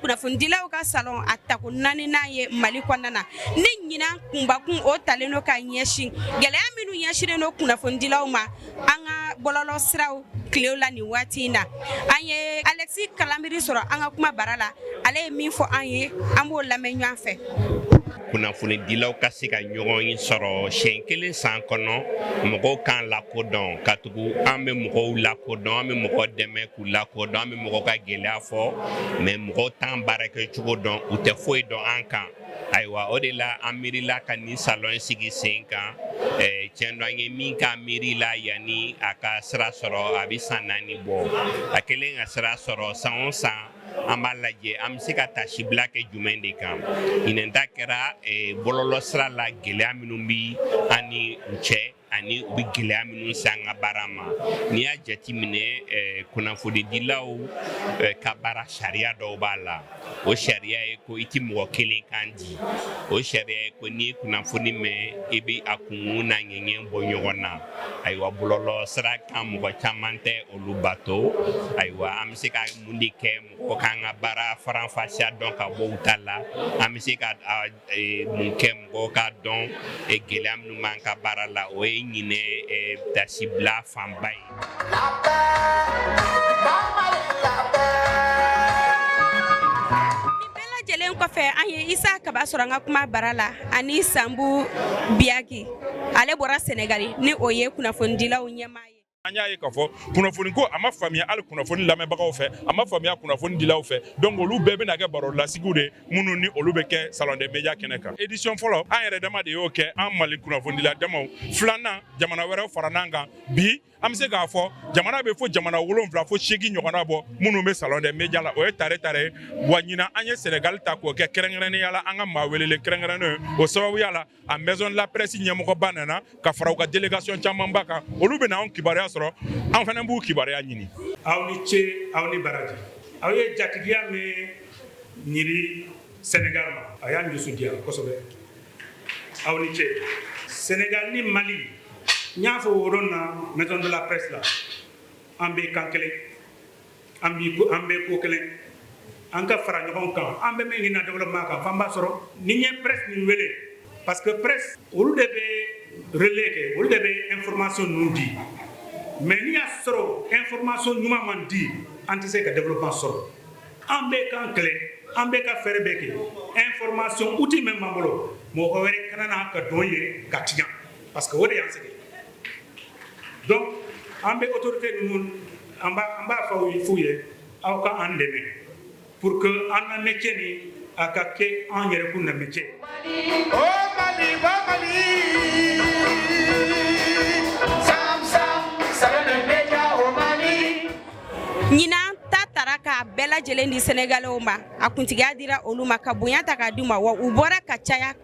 kunnafonidilaw ka salon a tako naaninan ye mali kɔnɔna na ni ɲinan kunbakun o talen do ka ɲɛsin gɛlɛya minnu ɲɛsinnen do kunnafonidilaw ma an ka bɔlɔlɔ siraw tilew la nin waati in na an ye alexi kalanbiri sɔrɔ an ka kuma bara la ale ye min fɔ an ye an b'o lamɛn ɲɔgɔn fɛ kunnafonidilaw ka se ka ɲɔgɔn sɔrɔ siɲɛ kelen san kɔnɔ mɔgɔw k'an lakodɔn katugu an bɛ mɔgɔw lakodɔn an bɛ mɔgɔ dɛmɛ U lakodɔn an bɛ mɔgɔ ka gɛlɛya fɔ mais mɔgɔ t'an baara kɛ cogo dɔn u tɛ foyi dɔn an kan ayiwa o de la an miirila ka nin salon in sigi sen kan tiɲɛ do an ye min k'a miiri la yanni a ka sira sɔrɔ a bɛ san naani bɔ a kɛlen ka sira sɔrɔ san o san an b'a lajɛ an bɛ se ka taasibila kɛ jumɛn de kan ɲinan ta kɛra bɔlɔlɔ sira la gɛlɛya minnu bɛ an ni u cɛ ani u bɛ gɛlɛya minnu se an ka baara ma n'i y'a jateminɛ eh, kunnafonidilaw eh, ka baara sariya dɔw b'a la o sariya ye ko i tɛ mɔgɔ kelen kan di o sariya ye ko n'i ye kunnafoni mɛn i bɛ a kunkun n'a ɲɛɲɛ bɔ ɲɔgɔn na ayiwa bɔlɔlɔ sira kan mɔgɔ caman tɛ olu bato ayiwa an bɛ se ka mun de kɛ mɔgɔ k'an ka baara faranfasiya dɔn ka bɔ u ta la an bɛ se ka mun kɛ mɔgɔw k'a dɔn gɛlɛya minnu b'an ka baara la o ye ɲinan taasibila fanba ye nin bɛɛ lajɛlen kɔfɛ an ye isa kaba sɔrɔ an ka kuma bara la ani sanbu biyaki ale bɔra sɛnɛgali ni o ye kunnafonidilaw ɲɛmaa ye an y'a ye k'a fɔ kunnafoni ko a ma faamuya hali kunnafoni lamɛnbagaw fɛ a ma faamuya kunnafoni dilaw fɛ donc olu bɛɛ bɛna kɛ baro lasigiw de minnu ni olu bɛ kɛ salon des médias kɛnɛ kan édition fɔlɔ an yɛrɛ dama de y'o kɛ an mali kunnafonidila damaw filanan jamana wɛrɛw fara n'an kan bi an bɛ se k'a fɔ jamana bɛ fo jamana wolonwula fo seegi ɲɔgɔnna bɔ minnu bɛ salon des médias la o ye tare tare ye wa ɲinan an ye senegali ta k'o kɛ kɛrɛnkɛrɛnnenya la an ka maa welelen kɛrɛnkɛrɛnnen o sababuya la a maison de la presse ɲɛmɔgɔba nana ka fara u ka délégation camanba kan olu bɛna anw kibaruya sɔrɔ an fana b'u kibaruya ɲini aw ni ce aw ni baraji aw ye jatigiya min yira sénégal ma a y'an dusu diya kosɛbɛ aw ni ce sénégal ni mali n y'a fɔ o don na maison de la presse la an bɛ kan kelen an b'i ko an bɛ ko kelen an ka fara ɲɔgɔn kan an bɛ min ɲini développement kan f'an b'a sɔrɔ ni n ye presse nin wele parce que presse olu de bɛ relais kɛ olu de bɛ information ninnu di mais n'i y'a sɔrɔ information ɲuman man di an tɛ se ka développement sɔrɔ an bɛ k'an kɛlɛ an bɛ ka fɛɛrɛ bɛɛ kɛ information outil min b'an bolo mɔgɔ wɛrɛ kana na ka don yen k'a tiɲɛ parce que o de y'an sigi donc an bɛ autorité ninnu an b'a fɔ f'u ye aw ka an dɛmɛ pour que an ka métier ni a ka kɛ an yɛrɛ kun na métier ɲinan ta tara k'a bɛɛ lajɛlen di sɛnɛgaliw ma a kuntigiya dira olu ma ka bonya ta k'a d'u ma wa u bɔra ka caya